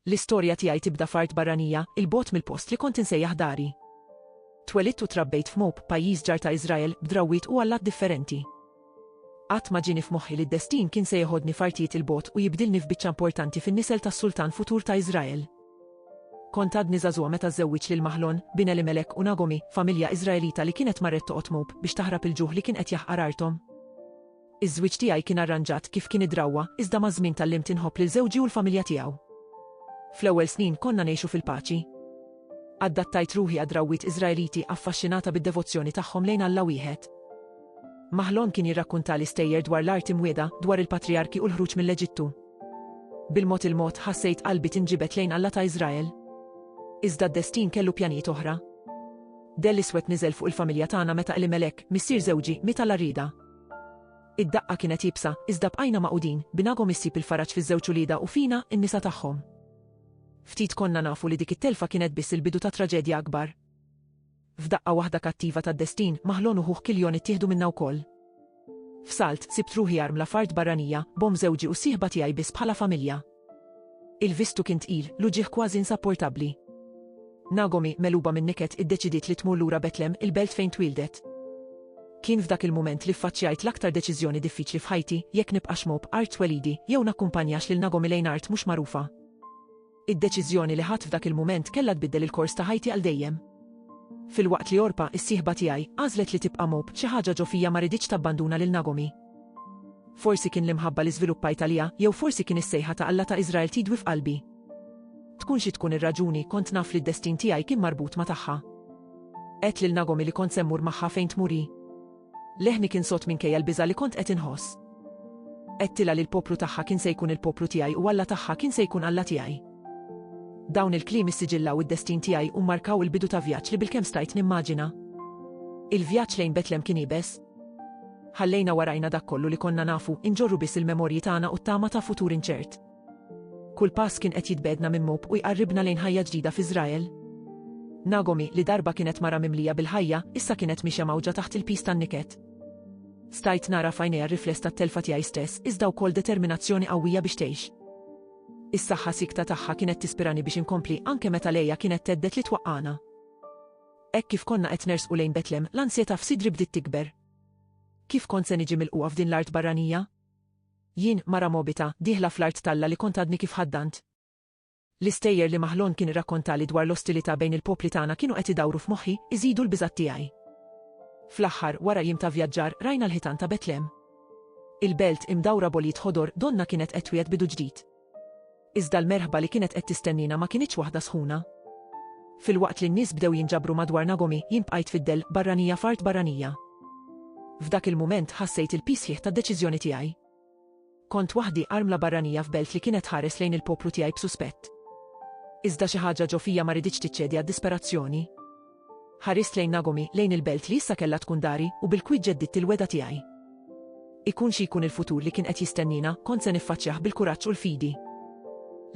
L-istorja tiegħi tibda f'art barranija, 'il bogħod mill-post li kont insejjaħ dari. Twelidt u trabbejt f'Moab, pajjiż ġar ta' Iżrael, b'drawwiet u allat differenti. Qatt ma ġieni f'moħħi li d-destin kien se jeħodni f'artijiet 'il bogħod u jibdilni f'biċċa importanti fin-nisel tas-sultan futur ta' Iżrael. Kont għadni żagħżugħa meta żżewwiġt lil Maħlon, bin Elimelek u Nagomi, familja Iżraelita li kienet marret toqgħod Moab biex taħrab il-ġuħ li kien qed jaħqar arthom. Iż-żwieġ tiegħi kien arranġat kif kien id-drawwa, iżda maż-żmien tgħallimt inħobb lil żewġi u l-familja tiegħu. Fl-ewwel snin konna ngħixu fil-paċi. Addattajt ruħi għad-drawwiet Iżraeliti affaxxinata bid-devozzjoni tagħhom lejn Alla wieħed. Mahlon kien jirrakkuntali stejjer dwar l-art imwiegħda, dwar il-patrijarki u l-ħruġ mill-Eġittu. Bil-mod il-mod ħassejt qalbi tinġibed lejn Alla ta' Iżrael. Iżda d-destin kellu pjanijiet oħra. Dell iswed niżel fuq il-familja tagħna meta Elimelek, missier żewġi, miet għal rida. Id-daqqa kienet iebsa, iżda bqajna magħqudin, b'Nagom issib il-faraġ fiż-żewġ uliedha u fina, in-nisa tagħhom. Ftit konna nafu li dik it-telfa kienet biss il-bidu ta' traġedja akbar. F'daqqa waħda kattiva tad-destin, Mahlon u ħuh Killion ittieħdu minna wkoll. F'salt, sibt ruħi armla f'art barranija, b'omm żewġi u s-sieħba tiegħi biss bħala familja. Il-vistu kien tqil, l-uġigħ kważi insapportabbli. Nagomi, megħluba min-niket, iddeċidiet li tmur lura Betlem, il-belt fejn twieldet. Kien f'dak il-mument li ffaċċjajt l-aktar deċiżjoni diffiċli f'ħajti, jekk nibqax mob art twelidi, jew nakkumpanjax lil Nagomi lejn art mhux magħrufa. Id-deċiżjoni li ħadt f'dak il-mument kellha tbiddel il-kors ta' ħajti għal dejjem. Filwaqt li Orpa, is-sieħba tiegħi, għażlet li tibqa' mob, xi ħaġa ġo fija ma riditx tabbanduna lil Nagomi. Forsi kien l-imħabba li żviluppajt għaliha, jew forsi kien is-sejħa ta' Alla ta' Iżrael tidwi f'qalbi. Tkun xi tkun ir-raġuni, kont naf li d-destin tiegħi kien marbut ma' tagħha. Għedt lil Nagomi li kont se mmur magħha fejn tmur hi. Leħni kien sod minkejja l-biża' li kont qed inħoss. Għedtilha li l-poplu tagħha kien se jkun il-poplu tiegħi u Alla tagħha kien se jkun Alla tiegħi. Dawn il-kliem issiġillaw id-destin tiegħi u mmarkaw il-bidu ta' vjaġġ li bilkemm stajt nimmaġina. Il-vjaġġ lejn Betlem kien iebes, Ħallejna warajna dak kollu li konna nafu, inġorru biss il-memorji tagħna u t-tama ta' futur inċert. Kull pass kien qed jitbegħedna minn Moab u jqarribna lejn ħajja ġdida f'Iżrael. Nagomi, li darba kienet mara mimlija bil-ħajja, issa kienet miexja mgħawġa taħt il-piż tan-niket. Stajt nara f'għajnejha r-rifless tat-telfa tiegħi stess, iżda wkoll determinazzjoni qawwija biex tgħix. Is-saħħa siekta tagħha kienet tispirani biex inkompli anke meta lejja kienet thedded li twaqqagħna. Hekk kif konna qed nersqu lejn Betlem, l-ansjetà f'sidri bdiet tikber. Kif kont se niġi milqugħa f'din l-art barranija? Jien, mara Mogħbita, dieħla fl-art t'Alla li kont għadni kif ħaddant. L-istejjer li Mahlon kien irrakkontali dwar l-ostilità bejn il-popli tagħna kienu qed idawru f'moħħi, iżidu l-biżgħat tiegħi. Fl-aħħar, wara jiem ta' vjaġġar, rajna l-ħitan ta' Betlem. Il-belt, imdawra b'għoljiet ħodor, donnha kienet qed twiegħed bidu ġdid. Iżda l-merħba li kienet qed tistennina ma kinitx waħda sħuna. Filwaqt li n-nies bdew jinġabru madwar Nagomi, jien bqajt fid-dell, barranija f'art barranija. F'dak il-mument ħassejt il-piż sħiħ tad-deċiżjoni tiegħi. Kont waħdi armla barranija f'belt li kienet tħares lejn il-poplu tiegħi b'suspett. Iżda xi ħaġa ġo fija ma riditx tiċċedi għad-disperazzjoni. Ħarist lejn Nagomi, lejn il-belt li issa kellha tkun dari, u bil-kwiet ġeddidt il-wegħda tiegħi. Ikun xi jkun il-futur li kien qed jistenniena, kont se niffaċċjah bil-kuraġġ u l-fidi.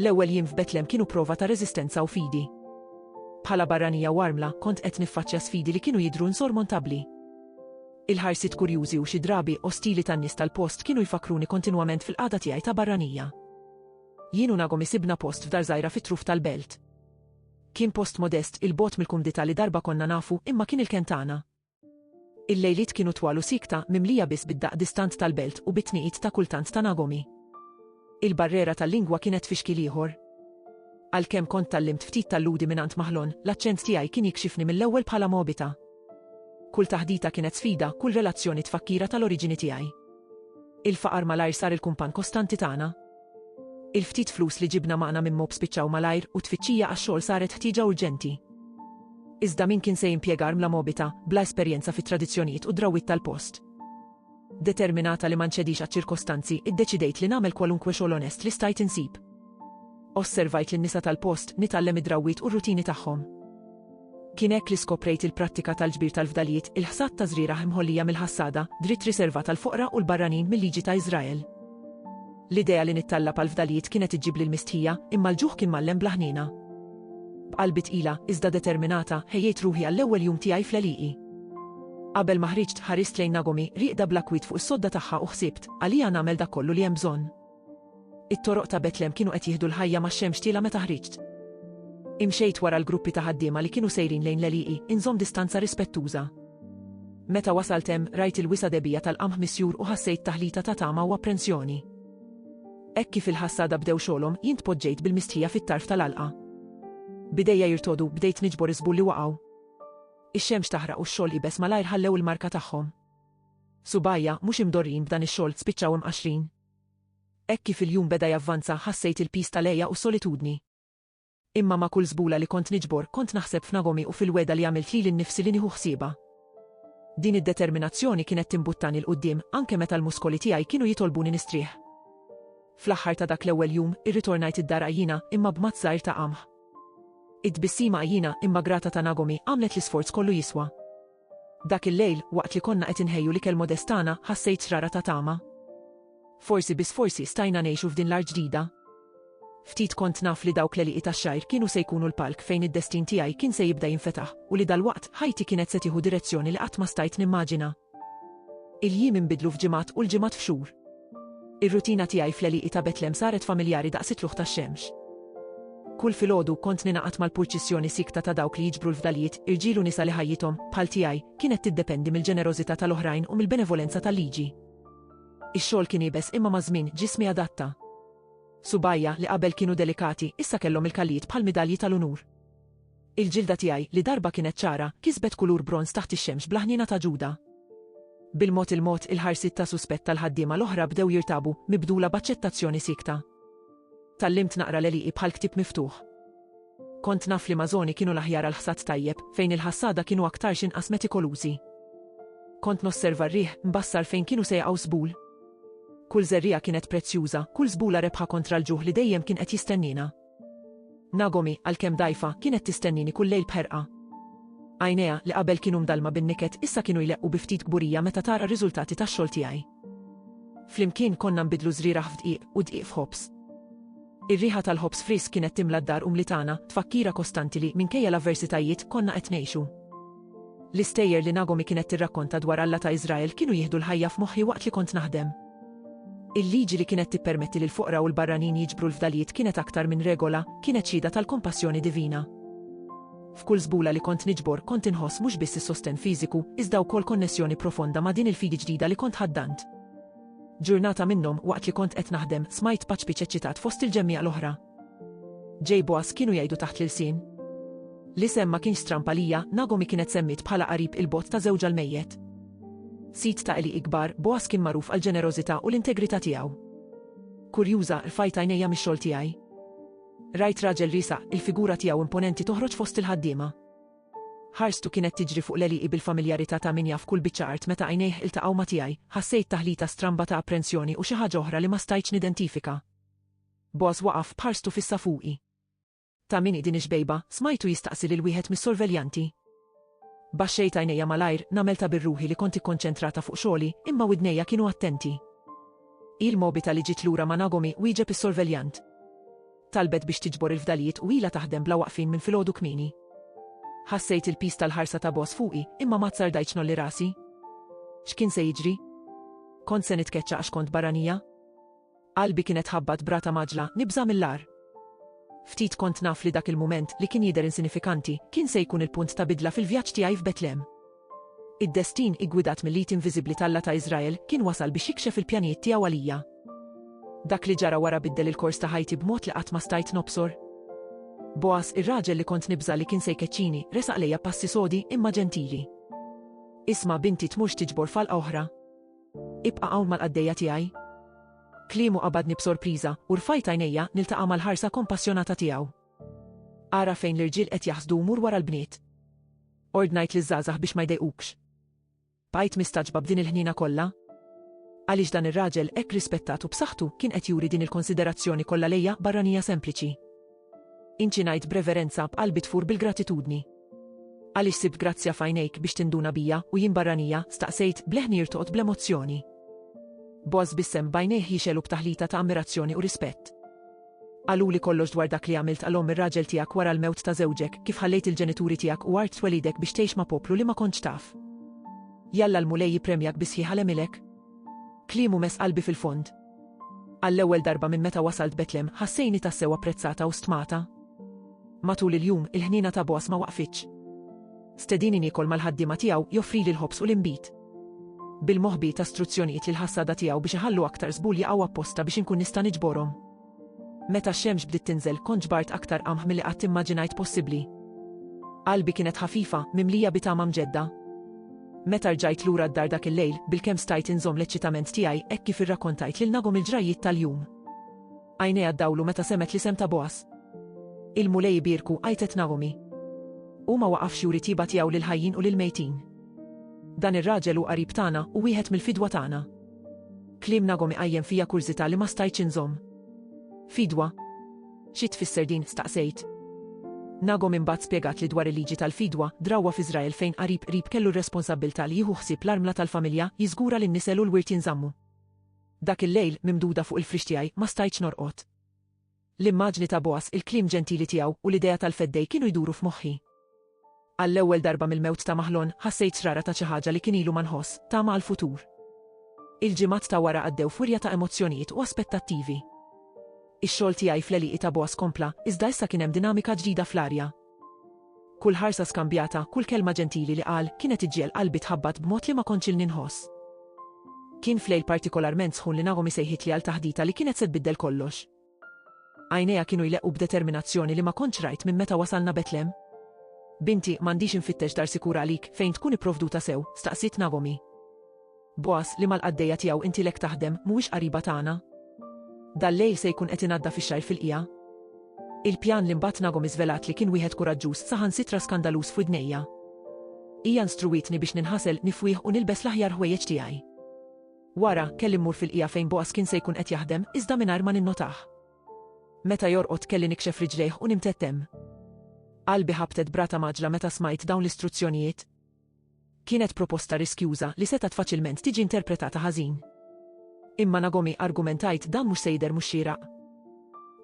L-ewwel jiem f'Betlem kienu prova ta' reżistenza u fidi. Bħala barranija u armla, kont qed niffaċċja sfidi li kienu jidhru insormontabbli. Il-ħarsiet kurjużi u xi drabi ostili tan-nies tal-post kienu jfakkruni kontinwament fil-qagħda tiegħi ta' barranija. Jien u Nagomi sibna post f'dar żgħira fit-truf tal-belt. Kien post modest 'il bogħod mill-kumdità li darba konna nafu imma kien il-kenn tagħna. Il-lejliet kienu twal u siekta, mimlija biss bid-daqq distant tal-belt u bit-tniqid ta' kultant ta' nagomi. Il-barrera tal-lingwa kienet fi xkiel ieħor. Għalkemm kont tgħallimt ftit tal-Lhudi mingħand Mahlon, l-aċċent tiegħi kien jikxifni mill-ewwel bħala Moabita. Kull taħdita kienet sfida, kull relazzjoni tfakkira tal-oriġini tiegħi. Il-faqar malajr sar il-kumpann kostanti tagħna. Il-ftit flus li ġibna magħna minn Mob spiċċaw malajr u t-tfittxija għax-xogħol saret ħtieġa urġenti. Iżda min kien se jimpjega armla Mobita, bla esperjenza fit-tradizzjonijiet u d-drawwiet tal-post? Determinata li ma nċedix għaċ-ċirkostanzi, iddeċidejt li nagħmel kwalunkwe xogħol onest li stajt insib. Osservajt lin-nisa tal-post, nitgħallem id-drawwiet u r-rutini tagħhom. Kien hekk li skoprejt il-prattika tal-ġbir tal-fdalijiet, il-ħsad ta' żrieragħ mħollija mill-ħassada, dritt riservat għall-foqra u l-barranin mil-liġi ta' Iżrael. L-idea li nittallab għall-fdalijiet kienet iġġibli l-mistħija, imma l-ġuħ kien mgħallem bla ħniena. B'qalbi tqila, iżda determinata, ħejjejt ruħi għall-ewwel jum tiegħi fl-għelieqi. Qabel ma ħriġt, ħarist lejn Nagomi, rieqda bl-akwiet fuq is-sodda tagħha u ħsibt, Għalija nagħmel dak kollu li hemm bżonn. It-toroq ta' Betlem kienu qed jieħdu l-ħajja max-xemx tielgħa meta ħriġt. Imxejt wara l-gruppi ta' ħaddiema li kienu sejrin lejn l-għelieqi, inżomm distanza rispettuża. Meta wasalt hemm, rajt il-wisa' debigħa tal-qamħ misjur u ħassejt taħlita ta' tama u apprensjoni. Hekk kif il-ħassada bdew xogħolhom, jien tpoġġejt bil-mistħija fit-tarf tal-għalqa. B'idejja jirtogħdu, bdejt niġbor iż-żbul li waqgħu. Ix-xemx taħraq u x-xogħol iebes malajr ħallew il-marka tagħhom. Subgħajja, mhux imdorrijin b'dan ix-xogħol, spiċċaw imqaxxrin. Hekk kif il-jum beda javvanza ħassejt il-piż tal-għeja u s-solitudni. Imma ma' kull żbula li kont niġbor kont naħseb f'Nagomi u fil-wegħda li għamilt lili nnifsi li nieħu ħsiebha. Din id-determinazzjoni kienet timbuttani 'l quddiem anke meta l-muskoli tiegħi kienu jitolbuni nistrieħ. Fl-aħħar ta' dak l-ewwel jum, irritornajt id-dar għajjina imma b'matt żgħir ta' qamħ. It-tbissima għajjina imma grata ta' Nagomi għamlet l-isforz kollu jiswa. Dak il-lejl, waqt li konna qed inħejju l-ikel modest tagħna, ħassejt xrara ta' tama. Forsi biss forsi stajna ngħixu f'din l-art ġdida. Ftit kont naf li dawk l-għelieqi tax-xgħir kienu se jkunu l-palk fejn id-destin tiegħi kien se jibda jinfetaħ u li dalwaqt ħajti kienet se tieħu direzzjoni li qatt ma stajt nimmaġina. Il-jiem inbidlu f'ġimgħat u l-ġimgħat f'xhur. Ir-rutina tiegħi fl-għelieqi ta' Betlem saret familjari daqs it-tlugħ tax-xemx. Kull filgħodu kont ningħaqad mal-purċissjoni siekta ta' dawk li jiġbru l-fdalijiet, irġiel u nisa li ħajjithom, bħal tiegħi, kienet tiddependi mill-ġenerożità tal-oħrajn u mill-benevolenza tal-liġi. Ix-xogħol kien iebes imma maż-żmien ġismi adatta. Subgħajja, li qabel kienu delikati, issa kellhom il-kallijiet bħal midalji tal-unur. Il-ġilda tiegħi, li darba kienet ċara, kisbet kulur bronż taħt ix-xemx bla ħniena ta' Ġuda. Bil-mod il-mod, il-ħarsiet ta' suspett tal-ħaddiema l-oħra bdew jirtabu, mibdula b'aċċettazzjoni siekta. Tgħallimt naqra l-għelieqi bħal ktieb miftuħ. Kont naf li mażoni kienu l-aħjar għal ħsad tajjeb, fejn il-ħassada kienu aktar x'inqas metikolużi. Kont nosserva r-riħ, mbassar fejn kienu se jaqgħu żbul. Kull żerriegħa kienet prezzjuża, kull żbula rebħa kontra l-ġuħ li dejjem kien qed jistennina. Nagomi, għalkemm dgħajfa, kienet tistennini kull lejl b'ħerqa. Għajnejha, li qabel kienu mdallma bin-niket, issa kienu jleqqu bi ftit kburija meta tara r-riżultati tax-xogħol tiegħi. Flimkien konna nbidlu żrieragħ f'dqiq u dqiq f'ħobż. Ir-riħa tal-ħobż frisk kienet timla d-dar umli tagħna, tfakkira kostanti li, minkejja l-avversitajiet, konna qed ngħixu. L-istejjer li Nagomi kienet tirrakkonta dwar Alla ta' Iżrael kienu jieħdu l-ħajja f'moħħi waqt li kont naħdem. Il-liġi li kienet tippermetti lill-foqra u l-barranin jiġbru l-fdalijiet kienet aktar minn regola, kienet xhieda tal-kompassjoni divina. F'kull żbula li kont niġbor, kont inħoss mhux biss is-sostenn fiżiku, iżda wkoll konnessjoni profonda ma' din il-fidi ġdida li kont ħaddant. Ġurnata minnhom, waqt li kont qed naħdem, smajt paċpiċ eċċitat fost il-ġemmiegħa l-oħra. Ġej Boaz kienu jgħidu taħt l-ilsien. L-isem ma kienx stramb għalija, Nagomi kienet semmiet bħala qarib il-bogħod ta' żewġha l-mejjet. Sid ta' għelieqi kbar, Boaz kien magħruf għall-ġenerożità u l-integrità tiegħu. Kurjuża, rfajt għajnejja mix-xogħol tiegħi. Rajt raġel riesaq, il-figura tiegħu imponenti toħroġ fost il-ħaddiema. Ħarstu kienet tiġri fuq l-għelieqi bil-familjarità ta' min jaf kull biċċa art meta għajnejh iltaqgħu ma' tiegħi, ħassejt taħlita stramba ta' apprensjoni u xi ħaġa oħra li ma stajtx nidentifika. Boss waqaf b'ħarstu fissa fuqi. Ta' min hi din ix-xbejba? smajtu jistaqsi lil wieħed mis-sorveljanti. Baxxejt għajnejja malajr, nagħmel ta' bir-ruħi li kont ikkonċentrata fuq xogħli, imma widnejja kienu attenti. Hi l-mobita li ġiet lura ma' Nagomi, wieġeb is-sorveljant. Talbet biex tiġbor il-fdalijiet u ilha taħdem bla waqfien minn filgħodu kmieni. Ħassejt il-piż tal-ħarsa ta' boss fuqi, imma ma tsardajtx nolli rasi. X'kien se jiġri? Kont se nitkeċċa għax kont barranija? Qalbi kienet tħabbat b'rata mgħaġġla, nibża' mill-agħar. Ftit kont naf li dak il-mument, li kien jidher insinifikanti, kien se jkun il-punt ta' bidla fil-vjaġġ tiegħi f'Betlem. Id-destin, iggwidat mill-id inviżibbli t'Alla ta' Iżrael, kien wasal biex jikxef il-pjanijiet tiegħu għalija. Dak li ġara wara biddel il-kors ta' ħajti b'mod li qatt ma stajt nobsor. Boaz, ir-raġel li kont nibża' li kien se jkeċċini, resaq lejja b'passi sodi, imma ġentili. Isma', binti, tmurx tiġbor falqa oħra. Ibqa' hawn mal-qaddejja tiegħi. Kliemu qabadni b'sorpriża, u rfajt għajnejja niltaqa' mal-ħarsa kompassjonata tiegħu. Ara fejn l-irġiel qed jaħsdu u mur wara l-bniet. Ordnajt liż-żgħażagħ biex ma jdejqukx. Bqajt mistaġba b'din il-ħniena kollha. Għaliex dan ir-raġel hekk rispettat u b'saħħtu kien qed juri din il-konsiderazzjoni kollha lejja barranija sempliċi. Inci ngħid b'reverenza, b'qalbi tfur bil-gratitudni. Għaliex sibt grazzja f'għajnejk biex tinduna bija, u jien barranija, staqsejt, b'leħn jirtoqt bl-emozzjoni. Boaz bissem bajnejh jixel u b'taħlita ta' ammirazzjoni u rispett. Qaluli kollox dwar dak li għamilt għal omm ir-raġel tiegħek wara l-mewt ta' żewġek, kif ħallejt il-ġenituri tiegħek u art twelidek biex tgħix ma' poplu li ma kontx taf. Jalla l-Mulej jippremjak bi sħiħ għal għemilek. Kliemu mess qalbi fil-fond. Għall-ewwel darba minn meta wasalt Betlem, ħassejni tassew apprezzata u stmata. Matul il-jum, il-ħniena ta' Boaz ma waqfitx. Stedini niekol mal-ħaddiema tiegħu, joffrili l-ħobż u l-inbid. Bil-moħbi ta' struzzjonijiet li l-ħassada tiegħu biex iħallu aktar żbul jaqgħu apposta biex inkun nista' niġborhom. Meta x-xemx bdiet tinżel, kont ġbart aktar qamħ milli qatt immaġinajt possibbli. Qalbi kienet ħafifa, mimlija bi tama mġedda. Meta rġajt lura d-dar dak il-lejl, bilkemm stajt inżomm l-eċċitament tiegħi hekk kif irrakkontajt lil Nagom il-ġrajjiet tal-jum. Għajnejha ddawlu meta semgħet l-isem ta' Boaz. Il-Mulej ibierku, għajtet Naomi. Hu ma waqafx juri tiba tiegħu lill-ħajjin u lill-mejtin. Dan ir-raġel hu qarib tagħna u wieħed mill-fidwa tagħna. Kliem Nagom iqajjem fija kurżità li ma stajtx inżomm. Fidwa, Xi tfisser din? staqsejt. Nagom imbagħad spjegatli dwar il-liġi tal-fidwa, drawwa f'Iżrael fejn qarib qrib kellu r-responsabbiltà li jieħu ħsieb l-armla tal-familja, jiżgura li n-nisel u l-wirt jinżammu. Dak il-lejl, mimduda fuq il-frix tiegħi, ma stajtx norqod. L-immaġni ta' Boaz, il-kliem ġentili tiegħu, u l-idea tal-feddej kienu jduru f'moħħi. Għall-ewwel darba mill-mewt ta' Mahlon, ħassejt xrara ta' xi ħaġa li kien ilu ma nħoss, tama għall-futur. Il-ġimgħat ta' wara għaddew f'wirja ta' emozzjonijiet u aspettattivi. Ix-xogħol tiegħi fl-għelieqi ta' Boaz kompla, iżda issa kien hemm dinamika ġdida fl-arja. Kull ħarsa skambjata, kull kelma ġentili li qal, kienet iġġiegħel qalbi tħabbat b'mod li ma kontx ilni nħoss. Kien f'lejl partikolarment sħun li Naomi sejħitli għal taħdita li kienet se tbiddel kollox. Għajnejha kienu jleqqu b'determinazzjoni li ma kontx rajt minn meta wasalna Betlehem. Binti, m'għandix infittex dar sikur għalik, fejn tkun ipprovduta sew? staqsiet Nagomi. Bogħaż, li mal-qaddejja tiegħu inti lek taħdem, mhuwiex qariba tagħna? Dal-lejl se jkun qed inaddaf ix-xgħir fil-qiegħa. Il-pjan li mbagħad Nagomi żvelatli kien wieħed kuraġġuż saħansitra skandaluż f'widnejja. Hija nstruwietni biex ninħasel, nifwih u nilbes l-aħjar ħwejjeġ tiegħi. Wara, kelli mmur fil-qiegħa fejn Boaz kien se jkun qed jaħdem, iżda mingħajr ma ninnotah. Meta jorqod kelli nikxef riġlejh u nimtedd hemm. Qalbi ħabtet b'rata mgħaġġla meta smajt dawn l-istruzzjonijiet. Kienet proposta riskjuża li setgħet faċilment tiġi interpretata ħażin. Imma Nagomi argumentajt dan mhux se jidher mhux xieraq.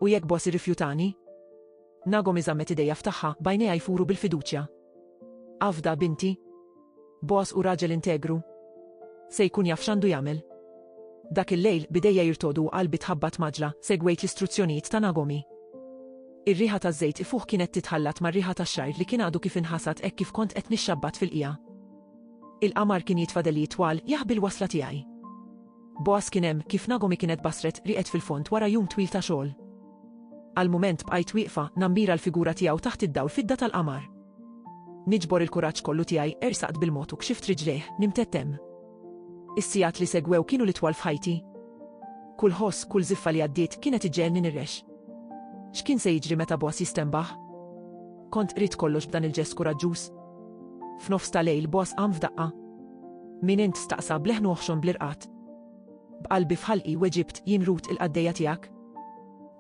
U jekk Boaz irrifjutani? Nagomi żammet idejha f'tagħha, b'għajnejha jfuru bil-fiduċja. Afda, binti. Bogħaż hu raġel integru. Se jkun jaf x'għandu jagħmel. Dak il-lejl, b'idejja jirtodu u qalbi tħabbat maġla, segwejt l-istruzzjonijiet ta' Nagomi. Ir-riħa taż-żejt ifuħ kienet titħallat mar-riħa tax-xgħir li kien għadu kif inħasad hekk kif kont qed nixxabbat fil-qiegħa. Il-qamar kien jitfadel jitwal, jaħbi l-wasla tiegħi. Boaz kien hemm kif Nagomi kienet basret rieqed fil-fond wara jum twil ta' xogħol. Għall-mument bqajt wieqfa, nammira l-figura tiegħu taħt id-dawl fidda tal-qamar. Niġbor il-kuraġġ kollu tiegħi, ersaqt bil-mod u kxift riġlejh, nimtett hemm. Is-sigħat li segwew kienu l-itwal f'ħajti. Kull ħoss, kull żiffa li għaddiet kienet iġġegħelni nirrex. X'kien se jiġri meta Boaz jistenbaħ? Kont qridt kollox b'dan il-ġest kuraġġuż. F'nofs ta' lejl boss qam f'daqqa. Min int? staqsa b'leħn oħxon bl-irqad. B'qalbi f'ħalqi weġibt jien Rut il-qaddejja tiegħek.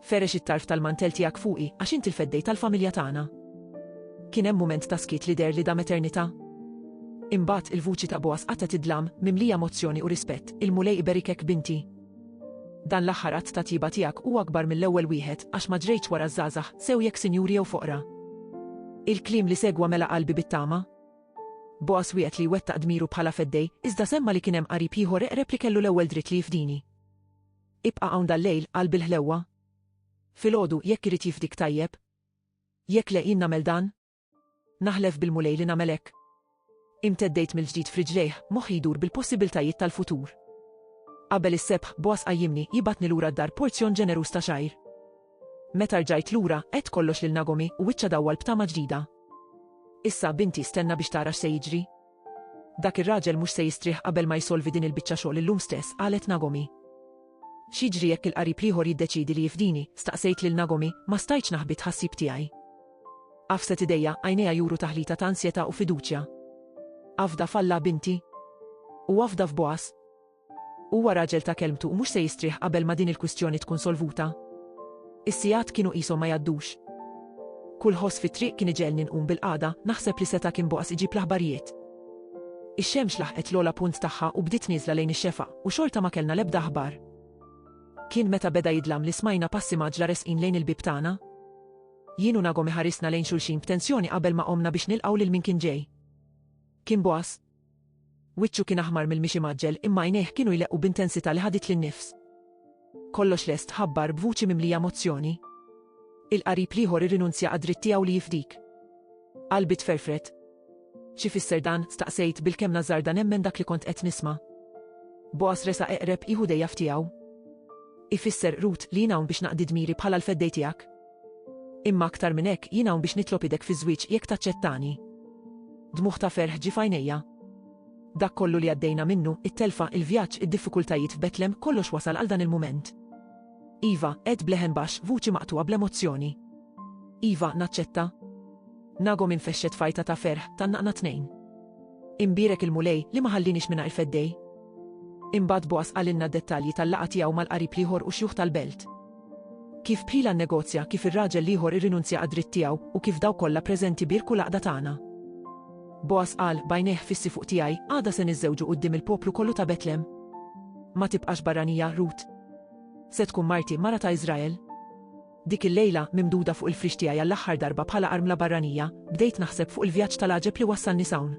Ferex it-tarf tal-mantell tiegħek fuqi għax int il-feddej tal-familja tagħna. Kien hemm mument ta' skiet li deher li dam eternità. Imbagħad il-vuċi ta' Boas qatgħet id-dlam, mimlija emozzjoni u rispett, Il-Mulej iberikek binti. Dan l-aħħar att ta' tjieba tiegħek hu akbar mill-ewwel wieħed, għax ma ġrejtx wara ż-żgħażagħ, sew jekk sinjuri jew foqra. Il-kliem li segwa mela qalbi bit-tama. Bogħaż wiegħed li jwettaq dmiru bħala feddej, iżda semma' li kien hemm qarib ieħor eqreb li kellu l-ewwel dritt li jifdini. Ibqa' hawn dal-lejl, qalb il-ħlewwa. Filgħodu, jekk irid jifdik tajjeb. Jekk le, jien nagħmel dan. Naħlef bil-Mulej li nagħmel hekk. Imteddejt mill-ġdid f'riġlejh, moħħi jdur bil-possibiltajiet tal-futur. Qabel is-sebħ, Boaz qajjimni, jibgħatni lura d-dar porzjon ġeneruż ta' xgħir. Meta rġajt lura, għedt kollox lil Nagomi u wiċċa dawwal b'tama ġdida. Issa, binti, stenna biex tara x'se jiġri. Dak ir-raġel mhux se jistrieħ qabel ma jsolvi din il-biċċa xogħol illum stess, qalet Nagomi. X'jiġri jekk il-qarib l-ieħor jiddeċiedi li jifdini? staqsejt lil Nagomi, ma stajtx naħbi t-tħassib tiegħi. Għafset idejha, għajnejha juru taħlita ta' ansjetà u fiduċja. Afda f'Alla, binti. U afda f'Boas. Huwa raġel ta' kelmtu u mhux se jistrieħ qabel ma din il-kwistjoni tkun solvuta. Is-sigħat kienu qishom ma jgħaddux. Kull ħoss fit-triq kien iġegħelni nqum bil-qagħda, naħseb li seta' kien boqas iġib l-aħbarijiet. Ix-xemx laħqet l-ogħla punt tagħha u bdiet nieżla lejn ix-xefaq, u xorta ma kellna l-ebda aħbar. Kien meta beda jidlam li smajna passi mgħaġġla resqin lejn il-bieb tagħna. Jien u Nagom iħarisna lejn xulxin b'tensjoni qabel ma qomna biex nilqgħu lil min kien ġej. Kien boqas, Wiċċu kien aħmar mill-mixi mgħaġġel imma għajnejh kienu jleqqu b'intensità li ħaditli n-nifs. Kollox lest, ħabbar b'vuċi mimlija emozzjoni. Il-qarib l-ieħor irrinunzja għad-dritt tiegħu li jifdik. Qalbi tferfret. Xi fisser dan, staqsejt bil-kemm nażarda nemmen dak li kont qed nisma'. Boas resa eqreb jieħu dejja f'tiegħu. Ifisser, Ruth, li jien hawn biex naqdi dmiri bħala l-feddej tiegħek? Imma aktar minn hekk jien hawn biex nitlob idek fiż-żwieġ jekk taċċettani. Dmugħ ta' ferħ ġie f'għajnejja. Dak kollu li għaddejna minnu, it-telfa, il-vjaġġ, id-diffikultajiet f'Betlem, kollox wasal għal dan il-mument. Iva, għedt b'leħen baxx, vuċi maqtugħa bl-emozzjoni. Iva, naċċetta. Nagom infexxet fajta ta' ferħ, tannaqna tnejn. Imbierek il-Mulej li ma ħallinix mingħajr feddej. Imbagħad Boas qalilna d-dettalji tal-laqgħa tiegħu mal-qarib l-ieħor u xjuħ tal-belt. Kif bħila nnegozja, kif ir-raġel l-ieħor irrinunzja għad-dritt tiegħu, u kif dawk kollha preżenti bierku l-għaqda tagħna. Boaz qal, B'għajnejh fissi fuq tiegħi, għada se niżżewġu quddiem il-poplu kollu ta' Betlem. Ma tibqax barranija, Rut. Se tkun marti, mara ta' Iżrael. Dik il-lejla, mimduda fuq il-frix tiegħi għall-aħħar darba bħala armla barranija, bdejt naħseb fuq il-vjaġġ tal-għaġeb li wassalni s'hawn.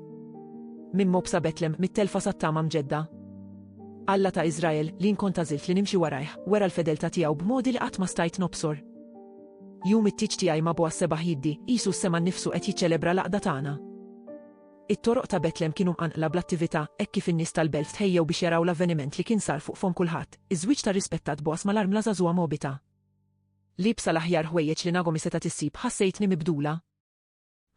Minn mobsa Betlem, mit-telfa sat-tama mġedda. Alla ta' Iżrael, li jien kont għażilt li nimxi warajh, wera l-fedeltà tiegħu b'modi li qatt ma stajt nobsor. Jum it-tieġ tiegħi ma bogħaż sebaħ jiddi, qisu s-sema nnifsu qed jiċċelebra l-għaqda tagħna. It-toroq ta' Betlem kienu mqanqla bl-attività, hekk kif in-nies tal-belt tħejjew biex jaraw l-avveniment li kien sar fuq fomm kulħadd, iż-żwieġ tar-rispettat Bogħaż mal-armla żagħżugħa Mogħbita. Liebsa l-aħjar ħwejjeġ li Nagomi setgħet issib, ħassejtni mibdula.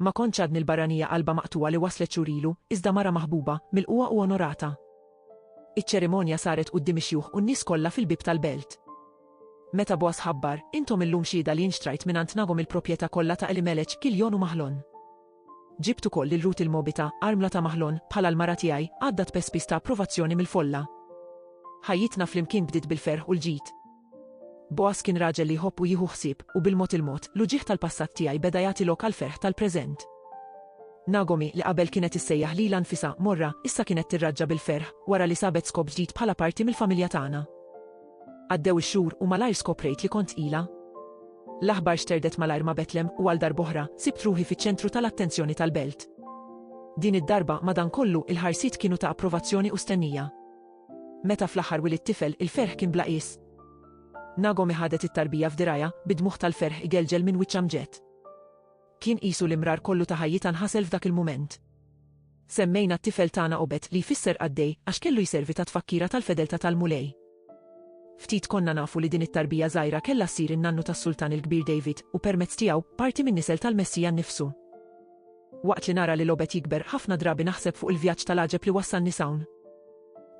Ma kontx għadni l-barranija qalbha maqtugħa li waslet xhur ilu, iżda mara maħbuba, milqugħa u onorata. Iċ-ċerimonja saret quddiem ix-xjuħ u n-nies kollha fil-bieb tal-belt. Meta Bogħaż ħabbar, Intom illum xhieda li jien xtrajt mingħand Nagom il-propjetà kollha ta' Elimelech, Kiljon u Maħlon. Ġibt ukoll lil Rut il-Mogħbita, armla ta' Maħlon, bħala l-mara tiegħi, għadda tpespis ta' approvazzjoni mill-folla. Ħajjitna flimkien bdiet bil-ferħ u l-ġid. Boaz kien raġel li jħobb u jieħu ħsieb, u bil-mod il-mod, l-uġigħ tal-passat tiegħi beda jagħti lok għall-ferħ tal-preżent. Nagomi, li qabel kienet issejjaħ lilha nfisha Morra, issa kienet tirraġġa bil-ferħ, wara li sabet skop ġdid bħala parti mill-familja tagħna. Għaddew ix-xhur, u malajr skoprejt li kont tqila. L-aħbar xterdet malajr ma' Betlem, u għal darb'oħra, sibt ruħi fiċ-ċentru tal-attenzjoni tal-belt. Din id-darba, madankollu, il-ħarsiet kienu ta' approvazzjoni u stennija. Meta fl-aħħar wilidt tifel, il-ferħ kien bla qies. Nagomi ħadet it-tarbija f'dirgħajha, bi dmugħ tal-ferħ igelgel minn wiċċ Amġed. Kien qisu l-imrar kollu ta' ħajjitha nħasel f'dak il-mument. Semmejna t-tifel tagħna Obed li jfisser qaddej għax kellu jservi ta' tfakkira tal-fedeltà tal-Mulej. Ftit konna nafu li din it-tarbija żgħira kellha ssir in-nannu tas-Sultan il-Kbir David u permezz tiegħu, parti min-nisel tal-Messija nnifsu. Waqt li nara lil Obed jikber, ħafna drabi naħseb fuq il-vjaġġ tal-għaġeb li wassalni s'hawn.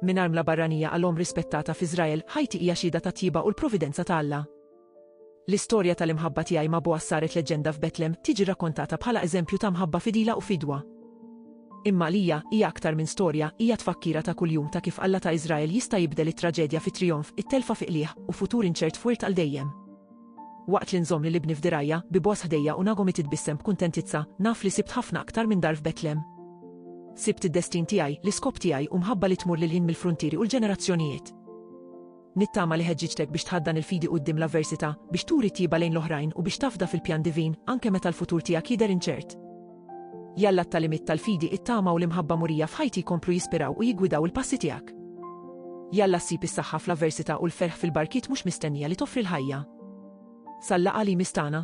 Minn armla barranija għal omm rispettata f'Iżrael, ħajti hija xhieda tat-tjieba u l-providenza ta' Alla. L-istorja tal-imħabba tiegħi ma' Boaz saret leġġenda f'Betlem, tiġi rrakkontata bħala eżempju ta' mħabba fidila u fidwa. Imma għalija, hija aktar minn storja, hija tfakkira ta' kuljum ta' kif Alla ta' Iżrael jista' jibdel it-traġedja fi trijonf, it-telfa fi qligħ, u futur inċert f'wirt għal dejjem. Waqt li nżomm lil ibni f'dirgħajja, bi Bogħaż ħdejja u Nagomi titbissem b'kuntentizza, naf li sibt ħafna aktar minn dar f'Betlem. Sibt id-destin tiegħi, l-iskop tiegħi u mħabba li tmur lil hinn mill-fruntieri u l-ġenerazzjonijiet. Nittama li ħeġġiġtek biex tħaddan il-fidi quddiem l-avversità, biex turi t-tjieba lejn l-oħrajn u biex tafda fil-pjan divin, anke meta l-futur tiegħek jidher inċert. Jalla t-tagħlimiet tal-fidi, it-tama u l-imħabba murija f'ħajti jkomplu jispiraw u jiggwidaw il-passi tiegħek. Jalla ssib is-saħħa fl-avversità u l-ferħ fil-barkiet mhux mistennija li toffri l-ħajja. Sal-laqgħa li jmiss tagħna.